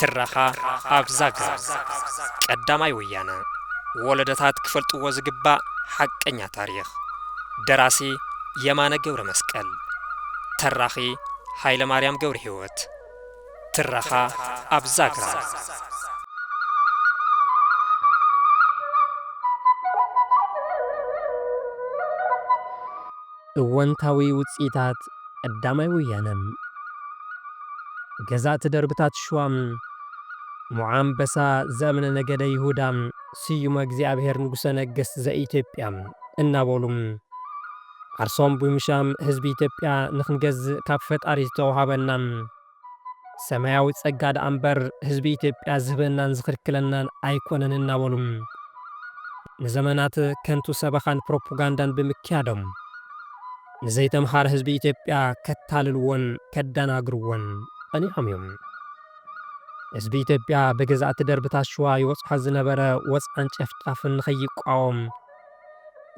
ትረኻ ኣብ ዛግራ ቀዳማይ ወያነ ወለደታት ክፈልጥዎ ዝግባእ ሓቀኛ ታሪኽ ደራሲ የማነ ገብረ መስቀል ተራኺ ኃይለ ማርያም ገብረ ሕይወት ትረኻ ኣብ ዛግራ እወንታዊ ውጽኢታት ቀዳማይ ወያነ ገዛእቲ ደርብታት ሽዋ፣ ሞዓ ኣንበሳ ዘእምነ ነገደ ይሁዳ፣ ስዩመ እግዚኣብሔር ንጉሠ ነገሥት ዘኢትዮጵያ እናበሉ ዓርሶም ብምሻም ህዝቢ ኢትዮጵያ ንክንገዝእ ካብ ፈጣሪ ዝተውሃበና፣ ሰማያዊ ጸጋ ደኣ እምበር ህዝቢ ኢትዮጵያ ዝህበናን ዝኽልክለናን ኣይኮነን እናበሉ ንዘመናት ከንቱ ሰበኻን ፕሮፖጋንዳን ብምክያዶም ንዘይተምሃረ ህዝቢ ኢትዮጵያ ከታልልዎን ከዳናግርዎን ጸኒሖም እዮም። ህዝቢ ኢትዮጵያ ብገዛእቲ ደርብታት ሽዋ ይበጽሖ ዝነበረ ወጽዓን ጨፍጫፍን ንኸይቋወም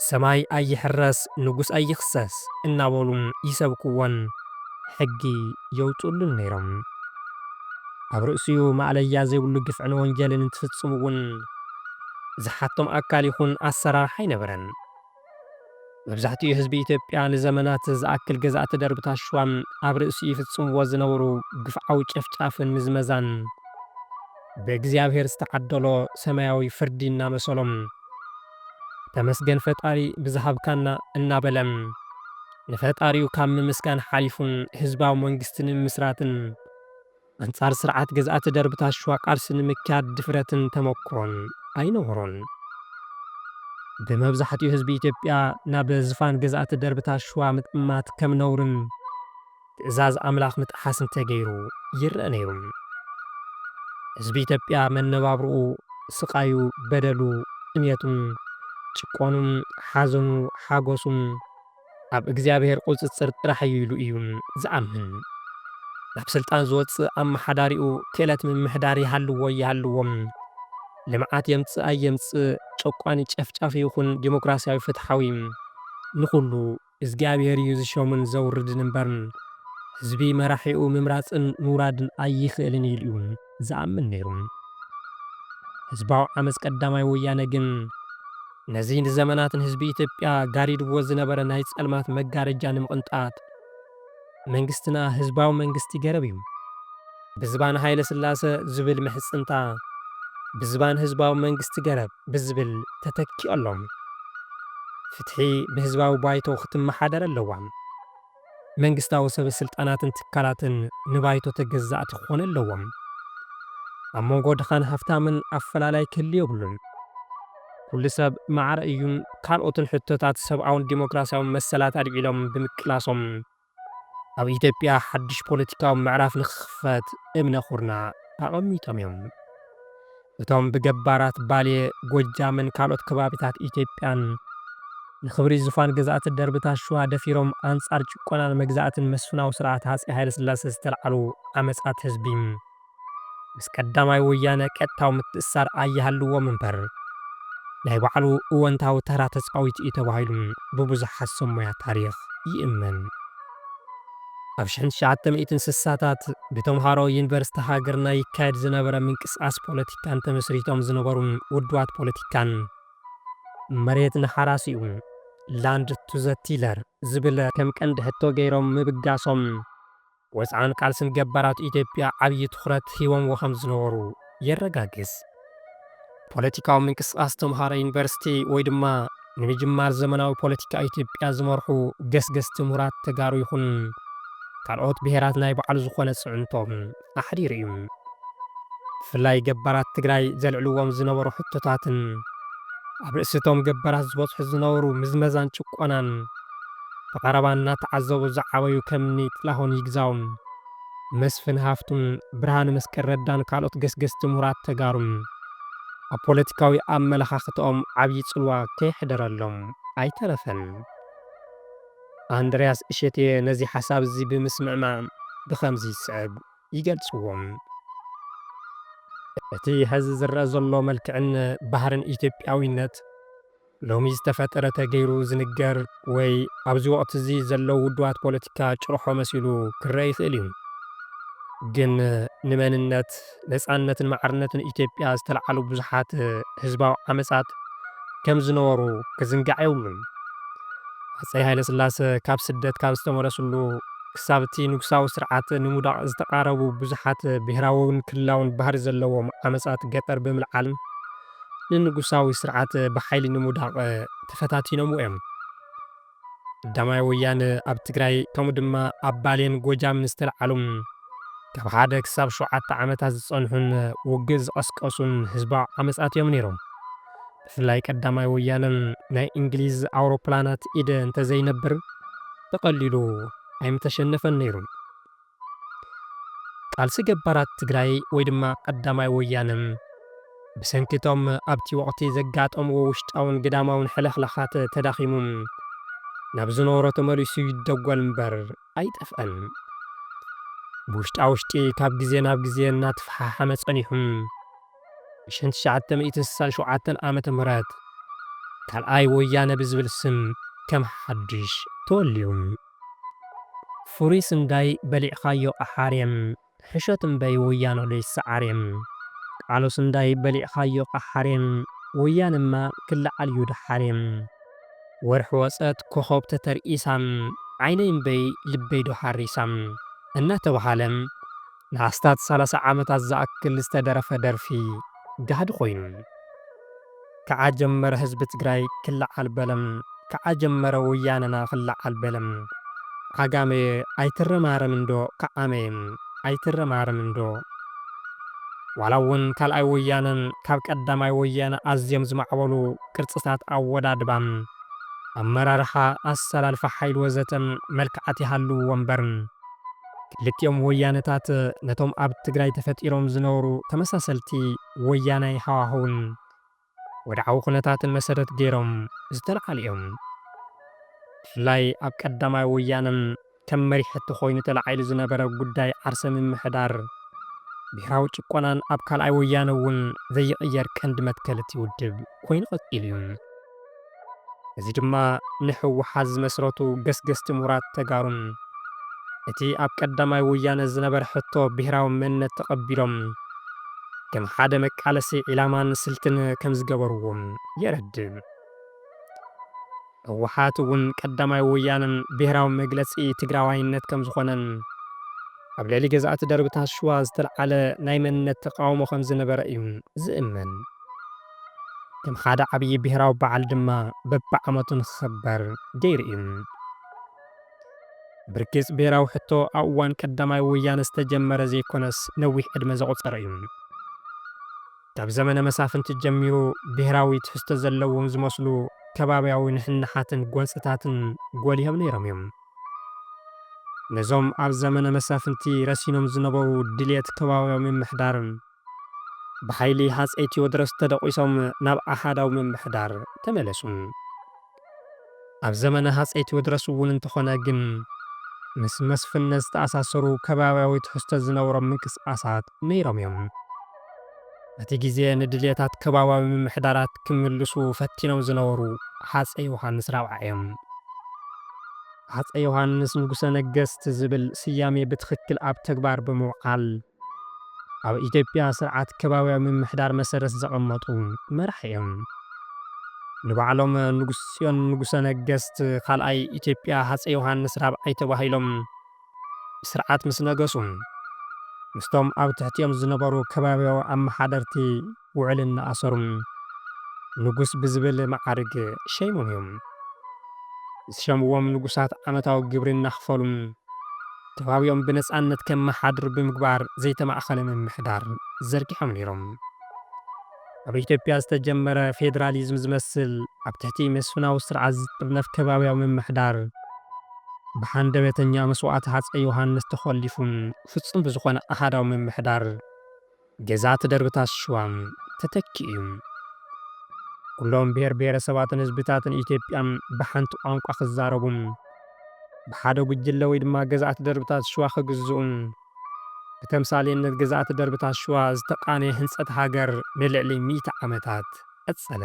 ሰማይ ኣይሕረስ ንጉስ ኣይኽሰስ እናበሉ ይሰብክዎን ሕጊ የውጽእሉን ነይሮም። ኣብ ርእሲኡ ማእለያ ዘይብሉ ግፍዕን ወንጀልን እንትፍጽሙ እውን ዝሓቶም ኣካል ይኹን ኣሰራርሓ ኣይነበረን። መብዛሕትኡ ህዝቢ ኢትዮጵያ ንዘመናት ዝኣክል ገዛእቲ ደርብታት ሽዋ ኣብ ርእሲኡ ይፍጽምዎ ዝነበሩ ግፍዓዊ ጨፍጫፍን ምዝመዛን፣ በእግዚኣብሔር ዝተዓደሎ ሰማያዊ ፍርዲ እናመሰሎም ተመስገን ፈጣሪ ብዝሃብካና እናበለ ንፈጣሪኡ ካብ ምምስጋን ሓሊፉ ህዝባዊ መንግስቲ ንምምስራትን ኣንፃር ስርዓት ገዝኣቲ ደርብታት ሽዋ ቃልሲ ንምክያድ ድፍረትን ተመኩሮን ኣይነበሮን። ብመብዛሕቲኡ ህዝቢ ኢትዮጵያ ናብ ዝፋን ገዝኣቲ ደርብታት ሽዋ ምጥማት ከም ነውርን፣ ትእዛዝ ኣምላኽ ምጥሓስ እንተገይሩ ይረኣ ነይሩ። ህዝቢ ኢትዮጵያ መነባብሮኡ፣ ስቓዩ፣ በደሉ፣ ጥምየቱን ጭቆኑን፣ ሓዘኑ፣ ሓጎሱን ኣብ እግዚኣብሔር ቁፅፅር ጥራሕ እዩ ኢሉ እዩ ዝኣምን። ናብ ስልጣን ዝወፅእ ኣመሓዳሪኡ ክእለት ምምሕዳር ይሃልዎ ኣይሃልዎ፣ ልምዓት የምፅእ ኣየምፅእ፣ ጨቋኒ ጨፍጫፊ ይኹን ዴሞክራሲያዊ ፍትሓዊ ንኹሉ እዝግኣብሄር እዩ ዝሾምን ዘውርድን እምበር ህዝቢ መራሒኡ ምምራጽን ምውራድን ኣይኽእልን ኢሉ እዩ ዝኣምን ነይሩ። ህዝባዊ ዓመጽ ቀዳማይ ወያነ ግን ነዚ ንዘመናት ንህዝቢ ኢትዮጵያ ጋሪድዎ ዝነበረ ናይ ጸልማት መጋረጃ ንምቕንጣጥ፣ መንግስትና ህዝባዊ መንግስቲ ገረብ እዩ። ብዝባን ሃይለስላሰ ዝብል ምሕጽንታ ብዝባን ህዝባዊ መንግስቲ ገረብ ብዝብል ተተኪኡ ኣሎ። ፍትሒ ብህዝባዊ ባይቶ ክትመሓደር ኣለዋ። መንግስታዊ ሰበስልጣናትን ትካላትን ንባይቶ ተገዛእቲ ክኾኑ ኣለዎም። ኣብ መንጎ ድኻን ሃፍታምን ኣፈላላይ ክህሉ የብሉን። ኩሉ ሰብ ማዕረ እዩን ካልኦትን ሕቶታት ሰብኣውን ዲሞክራስያውን መሰላት ኣልዒሎም ብምቅላሶም፣ ኣብ ኢትዮጵያ ሓድሽ ፖለቲካዊ ምዕራፍ ንክኽፈት እምነ ኩርና ኣቐሚጦም እዮም። እቶም ብገባራት ባሌ፣ ጎጃምን ካልኦት ከባቢታት ኢትዮጵያን ንክብሪ ዙፋን ገዛእቲ ደርብታት ሽዋ ደፊሮም ኣንጻር ጭቆናን መግዛእትን መስፍናዊ ስርዓት ሃጸይ ሃይለስላሴ ዝተልዓሉ ዓመጻት ህዝቢ፣ ምስ ቀዳማይ ወያነ ቀጥታዊ ምትእስሳር ኣይሃልዎም እምበር ናይ ባዕሉ እወንታዊ ተራ ተጻዊቱ እዩ ተባሂሉ ብብዙሓት ሰብ ሞያ ታሪኽ ይእመን። ኣብ ሽሕን ትሽዓተ ሚእትን ስሳታት ብተምሃሮ ዩኒቨርሲቲ ሃገርና ይካየድ ዝነበረ ምንቅስቓስ ፖለቲካን ተመስሪቶም ዝነበሩ ውድባት ፖለቲካን፣ መሬት ንሓራሲኡ፣ Land to the Tiller፣ ዝብል ከም ቀንዲ ሕቶ ገይሮም ምብጋሶም፣ ወጽዓን ቃልስን ገባራት ኢትዮጵያ ዓብዪ ትኹረት ሂቦምዎ ከም ዝነበሩ የረጋግጽ። ፖለቲካዊ ምንቅስቓስ ተምሃሮ ዩኒቨርሲቲ ወይ ድማ ንምጅማር ዘመናዊ ፖለቲካ ኢትዮጵያ ዝመርሑ ገስገስቲ ምሁራት ተጋሩ ይኹን ካልኦት ብሄራት ናይ ባዕሉ ዝኾነ ፅዕንቶ ኣሕዲሩ እዩ። ብፍላይ ገባራት ትግራይ ዘልዕልዎም ዝነበሩ ሕቶታትን ኣብ ርእሲ እቶም ገባራት ዝበፅሑ ዝነበሩ ምዝመዛን ጭቆናን፣ ብቐረባ እናተዓዘቡ ዝዓበዩ ከም እኒ ጥላሁን ይግዛው፣ መስፍን ሃፍቱ፣ ብርሃነ መስቀል ረዳን ካልኦት ገስገስቲ ምሁራት ተጋሩን ኣብ ፖለቲካዊ ኣመለኻኽተኦም ዓብዪ ፅልዋ ከየሕደረሎም ኣይተረፈን። ኣንድርያስ እሸቴ ነዚ ሓሳብ እዚ ብምስምዕማዕ ብኸምዚ ዝስዕብ ይገልፅዎ። እቲ ሐዚ ዝረኣ ዘሎ መልክዕን ባህርን ኢትዮጵያዊነት፣ ሎሚ ዝተፈጠረ ተገይሩ ዝንገር ወይ ኣብዚ ወቕቲ'ዚ ዘለዉ ውዱባት ፖለቲካ ጭርሖ መሲሉ ክረኣ ይኽእል እዩ። ግን ንመንነት፣ ነጻነትን ማዕርነትን ኢትዮጵያ ዝተልዓሉ ብዙሓት ህዝባዊ ዓመጻት ከም ዝነበሩ ክዝንጋዕ የብሉን። ሃጸይ ሃይለስላሰ ካብ ስደት ካብ ዝተመለስሉ ክሳብ እቲ ንጉሳዊ ስርዓት ንምውዳቕ ዝተቓረቡ ብዙሓት ብሄራዊን ክልላዊን ባህሪ ዘለዎም ዓመጻት ገጠር ብምልዓልን ንንጉሳዊ ስርዓት ብሓይሊ ንምውዳቕ ተፈታቲኖምዎ እዮም። ቀዳማይ ወያነ ኣብ ትግራይ ከምኡ ድማ ኣብ ባሌን ጎጃምን ዝተልዓሉ ካብ ሓደ ክሳብ ሸውዓተ ዓመታት ዝጸንሑን ውግእ ዝቐስቀሱን ህዝባዊ ዓመጻት እዮም ነይሮም። ብፍላይ ቀዳማይ ወያነ ናይ እንግሊዝ ኣውሮፕላናት ኢደ እንተዘይነብር ብቐሊሉ ኣይምተሸነፈን ነይሩ። ቃልሲ ገባራት ትግራይ ወይ ድማ ቀዳማይ ወያነ ብሰንኪ እቶም ኣብቲ ወቕቲ ዘጋጠምዎ ውሽጣውን ግዳማውን ሕልኽላኻት ተዳኺሙ ናብ ዝነበሮ ተመሊሱ ይደጎል እምበር ኣይጠፍኣን። ብውሽጣ ውሽጢ ካብ ግዜ ናብ ግዜ እናተፈሓሓመ ጸኒሑ ብሽን ትሽዓተ ሚእትን ስሳን ሸውዓተን ዓመተ ምህረት ካልኣይ ወያነ ብዝብል ስም ከም ሓድሽ ተወልዩ። ፍሩይ ስንዳይ በሊዕኻዮ ቃሓሬም ሕሾት እምበይ ወያኖ ለይሳዓሬም። ቃሉ ስንዳይ በሊዕኻዮ ቃሓሬም ወያነማ ክላዓል ዩ ዳሓሬም። ወርሒ ወጸት ኮኾብ ተተርኢሳ ዓይነይ እምበይ ልበይ ዶ ሓሪሳ። እናተብሃለ ንኣስታት ሰላሳ ዓመታት ዝኣክል ዝተደረፈ ደርፊ ጋህዲ ኮይኑ። ክዓ ጀመረ ህዝቢ ትግራይ ክልዓል በለ ክዓ ጀመረ ወያነና ክልዓል በለ ዓጋመ ኣይትረማረምን ዶ ክዓመ ኣይትረማረምን ዶ ዋላ እውን ካልኣይ ወያነ ካብ ቀዳማይ ወያነ ኣዝዮም ዝማዕበሉ ቅርፅታት ኣወዳድባ ኣመራርሓ ኣሰላልፋ ሓይሊ ወዘተ መልክዓት ይሃልውዎ እምበር ክልቲኦም ወያነታት ነቶም ኣብ ትግራይ ተፈጢሮም ዝነበሩ ተመሳሰልቲ ወያናይ ሃዋህውን ወድዓዊ ኩነታትን መሰረት ገይሮም ዝተልዓሉ እዮም። ብፍላይ ኣብ ቀዳማይ ወያነን ከም መሪሕቲ ኮይኑ ተላዒሉ ዝነበረ ጉዳይ ዓርሰ ምምሕዳር ብሄራዊ ጭቆናን ኣብ ካልኣይ ወያነ እውን ዘይቕየር ቀንዲ መትከል እቲ ውድብ ኮይኑ ቀፂሉ እዩ። እዚ ድማ ንህወሓት ዝመስረቱ ገስገስቲ ምሁራት ተጋሩን እቲ ኣብ ቀዳማይ ወያነ ዝነበረ ሕቶ ብሄራዊ መንነት ተቐቢሎም ከም ሓደ መቃለሲ ዒላማን ስልትን ከምዝገበርዎ የረድእ። ህወሓት እውን ቀዳማይ ወያነ ብሄራዊ መግለፂ ትግራዋይነት ከምዝኾነን ኣብ ልዕሊ ገዛእቲ ደርብታት ሽዋ ዝተልዓለ ናይ መንነት ተቃውሞ ከምዝነበረ እዩ ዝእመን። ከም ሓደ ዓብዪ ብሄራዊ በዓል ድማ በብዓመቱ ንክኽበር ገይሩ እዩ። ብርግፅ ብሄራዊ ሕቶ ኣብ እዋን ቀዳማይ ወያነ ዝተጀመረ ዘይኮነስ ነዊሕ ዕድመ ዘቑፀረ እዩ። ካብ ዘመነ መሳፍንቲ ጀሚሩ ብሄራዊ ትሕዝቶ ዘለዎም ዝመስሉ ከባብያዊ ንሕንሓትን ጎንፅታትን ጎሊሆም ነይሮም እዮም። ነዞም ኣብ ዘመነ መሳፍንቲ ረሲኖም ዝነበሩ ድልየት ከባብያዊ ምምሕዳር ብሓይሊ ሃፀይ ቴዎድሮስ ተደቚሶም ናብ ኣሃዳዊ ምምሕዳር ተመለሱ። ኣብ ዘመነ ሃፀይ ቴዎድሮስ እውን እንተኾነ ግን ምስ መስፍንነት ዝተኣሳሰሩ ከባብያዊ ትሕዝቶ ዝነበሮም ምንቅስቓሳት ነይሮም እዮም። በቲ ግዜ ንድልየታት ከባብያዊ ምምሕዳራት ክምልሱ ፈቲኖም ዝነበሩ ሃፀይ ዮሃንስ ራብዓይ እዮም። ሃፀይ ዮሃንስ ንጉሰ ነገስት ዝብል ስያሜ ብትኽክል ኣብ ተግባር ብምውዓል፣ ኣብ ኢትዮጵያ ስርዓት ከባብያዊ ምምሕዳር መሰረት ዘቐመጡ መራሒ እዮም። ንባዕሎም ንጉስ ፅዮን ንጉሰ ነገስት ካልኣይ ኢትዮጵያ ሃፀይ ዮሃንስ ራብዓይ ተባሂሎም ብስርዓት ምስ ነገሱ ምስቶም ኣብ ትሕቲኦም ዝነበሩ ከባብያዊ ኣመሓደርቲ ውዕል እናኣሰሩ ንጉስ ብዝብል መዓርግ ሸይሞም እዮም። ዝሸምዎም ንጉሳት ዓመታዊ ግብሪ እናኽፈሉ ከባቢኦም ብነፃነት ከመሓድሩ ብምግባር ዘይተማእኸለ ምምሕዳር ዘርጊሖም ነይሮም። ኣብ ኢትዮጵያ ዝተጀመረ ፌዴራሊዝም ዝመስል ኣብ ትሕቲ መስፍናዊ ስርዓት ዝጥርነፍ ከባቢያዊ ምምሕዳር ብሃንደበተኛ መስዋእቲ ሃፀይ ዮሃንስ ተኾሊፉ ፍፁም ብዝኾነ ኣሃዳዊ ምምሕዳር ገዛ ትደርብታት ሽዋ ተተኪኡ እዩ። ኩሎም ብሄር ብሄረሰባትን ህዝብታትን ኢትዮጵያ ብሓንቲ ቋንቋ ክዛረቡ፣ ብሓደ ጉጅለ ወይ ድማ ገዛእቲ ደርብታት ሽዋ ክግዝኡ፣ ብተምሳሌነት ገዛእቲ ደርብታት ሽዋ ዝተቃነየ ህንፀት ሃገር ንልዕሊ ሚእቲ ዓመታት ቀፀለ።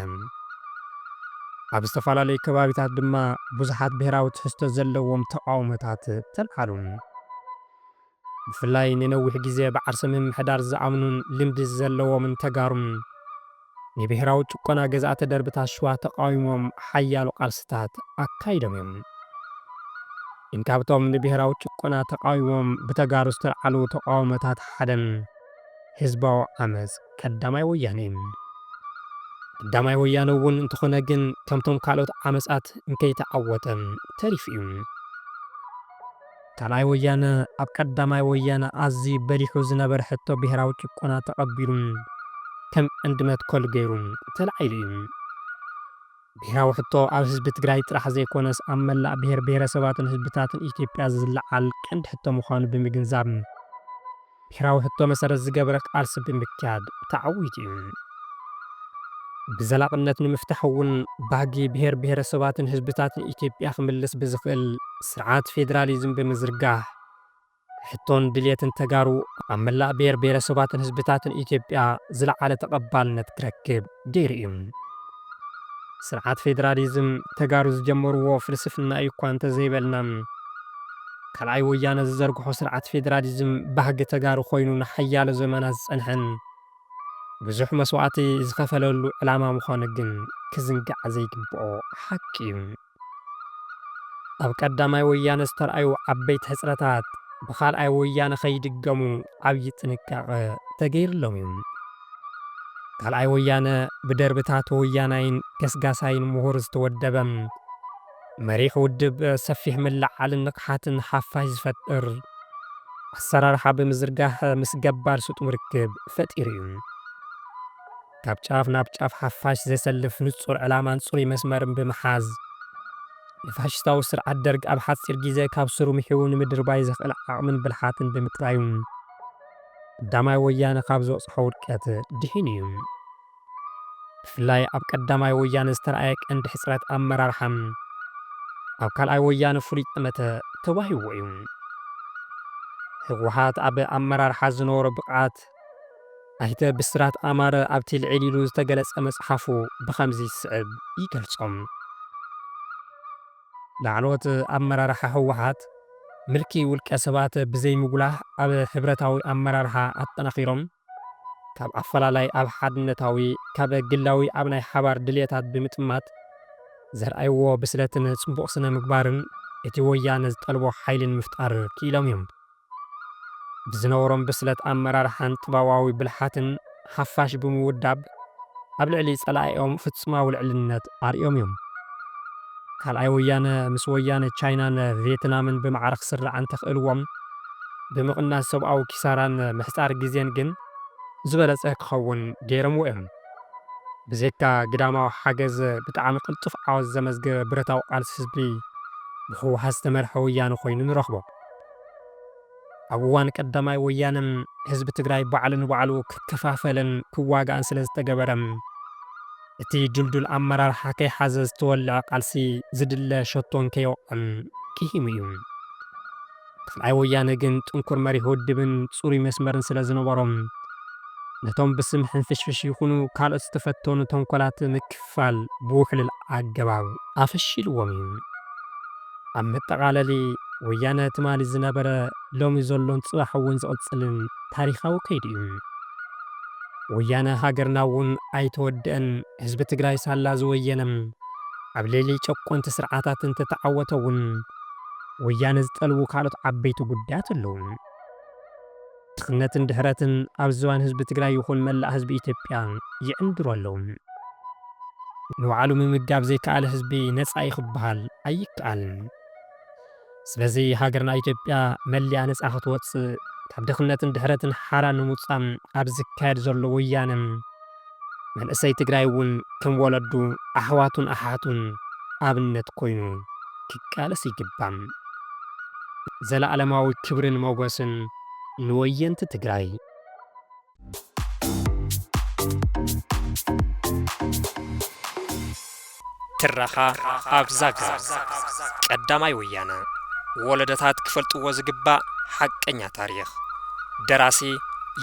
ኣብ ዝተፈላለዩ ከባቢታት ድማ ብዙሓት ብሄራዊ ትሕዝቶ ዘለዎም ተቃውሞታት ተልዓሉ። ብፍላይ ንነዊሕ ግዜ ብዓርሰ ምምሕዳር ዝኣምኑን ልምዲ ዘለዎምን ተጋሩን ንብሄራዊ ጭቆና ገዛእቲ ደርብታት ሽዋ ተቓዊሞም ሓያሎ ቃልስታት ኣካይዶም እዮም። ግን ካብቶም ንብሄራዊ ጭቆና ተቓዊሞም ብተጋሩ ዝተልዓሉ ተቓውሞታት ሓደ ህዝባዊ ዓመጽ ቀዳማይ ወያነ እዩ። ቀዳማይ ወያነ እውን እንተኾነ ግን ከምቶም ካልኦት ዓመጻት እንከይተዓወተ ተሪፉ እዩ። ካልኣይ ወያነ ኣብ ቀዳማይ ወያነ ኣዝዩ በሊሑ ዝነበረ ሕቶ ብሄራዊ ጭቆና ተቐቢሉ ከም ቀንዲ መትከሉ ገይሩ ተላዒሉ እዩ። ብሄራዊ ሕቶ ኣብ ህዝቢ ትግራይ ጥራሕ ዘይኮነስ ኣብ መላእ ብሄር ብሄረሰባትን ህዝብታትን ኢትዮጵያ ዝለዓል ቀንዲ ሕቶ ምዃኑ ብምግንዛብ፣ ብሄራዊ ሕቶ መሰረት ዝገበረ ቃልሲ ብምክያድ ተዓዊቱ እዩ። ብዘላቕነት ንምፍታሕ እውን ባህጊ ብሄር ብሄረሰባትን ህዝብታትን ኢትዮጵያ ክምልስ ብዝኽእል ስርዓት ፌዴራሊዝም ብምዝርጋሕ ሕቶን ድልየትን ተጋሩ ኣብ መላእ ብሄር ብሄረሰባትን ህዝብታትን ኢትዮጵያ ዝለዓለ ተቐባልነት ክረክብ ገይሩ እዩ። ስርዓት ፌደራሊዝም ተጋሩ ዝጀመርዎ ፍልስፍና እዩ እኳ እንተዘይበልና፣ ካልኣይ ወያነ ዝዘርግሖ ስርዓት ፌደራሊዝም ባህጊ ተጋሩ ኮይኑ ንሓያሎ ዘመናት ዝፀንሐን ብዙሕ መስዋእቲ ዝኸፈለሉ ዕላማ ምዃኑ ግን ክዝንጋዕ ዘይግበኦ ሓቂ እዩ። ኣብ ቀዳማይ ወያነ ዝተርኣዩ ዓበይቲ ሕጽረታት ብካልኣይ ወያነ ከይድገሙ ዓብዪ ጥንቃቐ ተገይርሎም እዩ። ካልኣይ ወያነ ብደርብታት ወያናይን ገስጋሳይን ምሁር ዝተወደበ መሪሕ ውድብ ሰፊሕ ምልዕዓልን ንቕሓትን ሓፋሽ ዝፈጥር ኣሰራርሓ ብምዝርጋሕ ምስ ገባር ስጡም ርክብ ፈጢሩ እዩ። ካብ ጫፍ ናብ ጫፍ ሓፋሽ ዘሰልፍ ንጹር ዕላማን ጽሩይ መስመርን ብምሓዝ፣ ንፋሽስታዊ ስርዓት ደርግ ኣብ ሓጺር ግዜ ካብ ሱሩ ምሒዉ ንምድርባይ ዘኽእል ዓቕምን ብልሓትን ብምጥራዩ፣ ቀዳማይ ወያነ ካብ ዝበጽሖ ውድቀት ድሒኑ እዩ። ብፍላይ ኣብ ቀዳማይ ወያነ ዝተራእየ ቀንዲ ሕጽረት ኣመራርሓ፣ ኣብ ካልኣይ ወያነ ፍሉይ ጠመተ ተዋሂብዎ እዩ። ህወሓት ኣብ ኣመራርሓ ዝነበሮ ብቕዓት፣ ኣይተ ብስራት ኣማረ ኣብቲ ልዕል ኢሉ ዝተገለፀ መፅሓፉ ብኸምዚ ዝስዕብ ይገልፆም። ላዕለዎት ኣመራርሓ ህወሓት ምልኪ ውልቀ ሰባት ብዘይምጉላህ ኣብ ሕብረታዊ ኣመራርሓ ኣጠናኺሮም ካብ ኣፈላላይ ኣብ ሓድነታዊ፣ ካብ ግላዊ ኣብ ናይ ሓባር ድልየታት ብምጥማት ዘርኣይዎ ብስለትን ፅቡቕ ስነ ምግባርን እቲ ወያነ ዝጠልቦ ሓይልን ምፍጣር ክኢሎም እዮም። ብዝነበሮም ብስለት ኣመራርሓን ጥበባዊ ብልሓትን ሓፋሽ ብምውዳብ ኣብ ልዕሊ ፀላኢኦም ፍፁማዊ ልዕልነት ኣርእዮም እዮም። ካልኣይ ወያነ ምስ ወያነ ቻይናን ቬትናምን ብማዕረ ክስራዕ እንተኽእልዎም ብምቕናስ ሰብኣዊ ኪሳራን ምሕፃር ግዜን ግን ዝበለፀ ክኸውን ገይሮምዎ እዮም። ብዘይካ ግዳማዊ ሓገዝ ብጣዕሚ ቅልጡፍ ዓወት ዘመዝገበ ብረታዊ ቃልሲ ህዝቢ ብህወሓት ዝተመርሐ ወያነ ኮይኑ ንረኽቦ። ኣብ እዋን ቀዳማይ ወያነ ህዝቢ ትግራይ ባዕሉ ንባዕሉ ክከፋፈልን ክዋጋእን ስለ ዝተገበረ፣ እቲ ድልዱል ኣመራርሓ ከይሓዘ ዝተወልዐ ቃልሲ ዝድለ ሸቶ እንከይወቕዐን ኪሂሙ እዩ። ካልኣይ ወያነ ግን ጥንኩር መሪሕ ውድብን ፅሩይ መስመርን ስለ ዝነበሮ፣ ነቶም ብስም ሕንፍሽፍሽ ይኹኑ ካልኦት ዝተፈተኑ ተንኮላት ምክፍፋል ብውሕሉል ኣገባብ ኣፈሺልዎም እዩ። ኣብ መጠቓለሊ፣ ወያነ ትማሊ ዝነበረ፣ ሎሚ ዘሎን ጽባሕ እውን ዝቕጽልን ታሪኻዊ ከይዲ እዩ። ወያነ ሃገርና እውን ኣይተወደኣን፣ ህዝቢ ትግራይ ሳላ ዝወየነ ኣብ ልዕሊ ጨቆንቲ ስርዓታት እንተተዓወተ እውን ወያነ ዝጠልቡ ካልኦት ዓበይቲ ጉዳያት ኣለዉ። ድኽነትን ድሕረትን ኣብ ዝባን ህዝቢ ትግራይ ይኹን መላእ ህዝቢ ኢትዮጵያ ይዕንድሩ ኣለዉ። ንባዕሉ ምምጋብ ዘይከኣለ ህዝቢ ነፃ ዩ ክበሃል ኣይከኣልን። ስለዚ ሃገርና ኢትዮጵያ መሊኣ ነፃ ክትወፅእ ካብ ድኽነትን ድሕረትን ሓራ ንምውፃእ ኣብ ዝካየድ ዘሎ ወያነ፣ መንእሰይ ትግራይ እውን ከም ወለዱ ኣሕዋቱን ኣሓቱን ኣብነት ኮይኑ ክቃለስ ይግባእ። ዘለኣለማዊ ክብርን ሞጎስን ንወየንቲ ትግራይ። ትረኻ ኣብ ዛግራ ቀዳማይ ወያነ ወለዶታት ክፈልጥዎ ዝግባእ ሓቀኛ ታሪኽ ደራሲ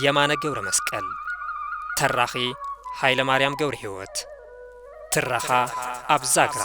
የማነ ገብረመስቀል ተራኺ ሃይለማርያም ገብረሂወት ትረኻ ኣብ ዛግራ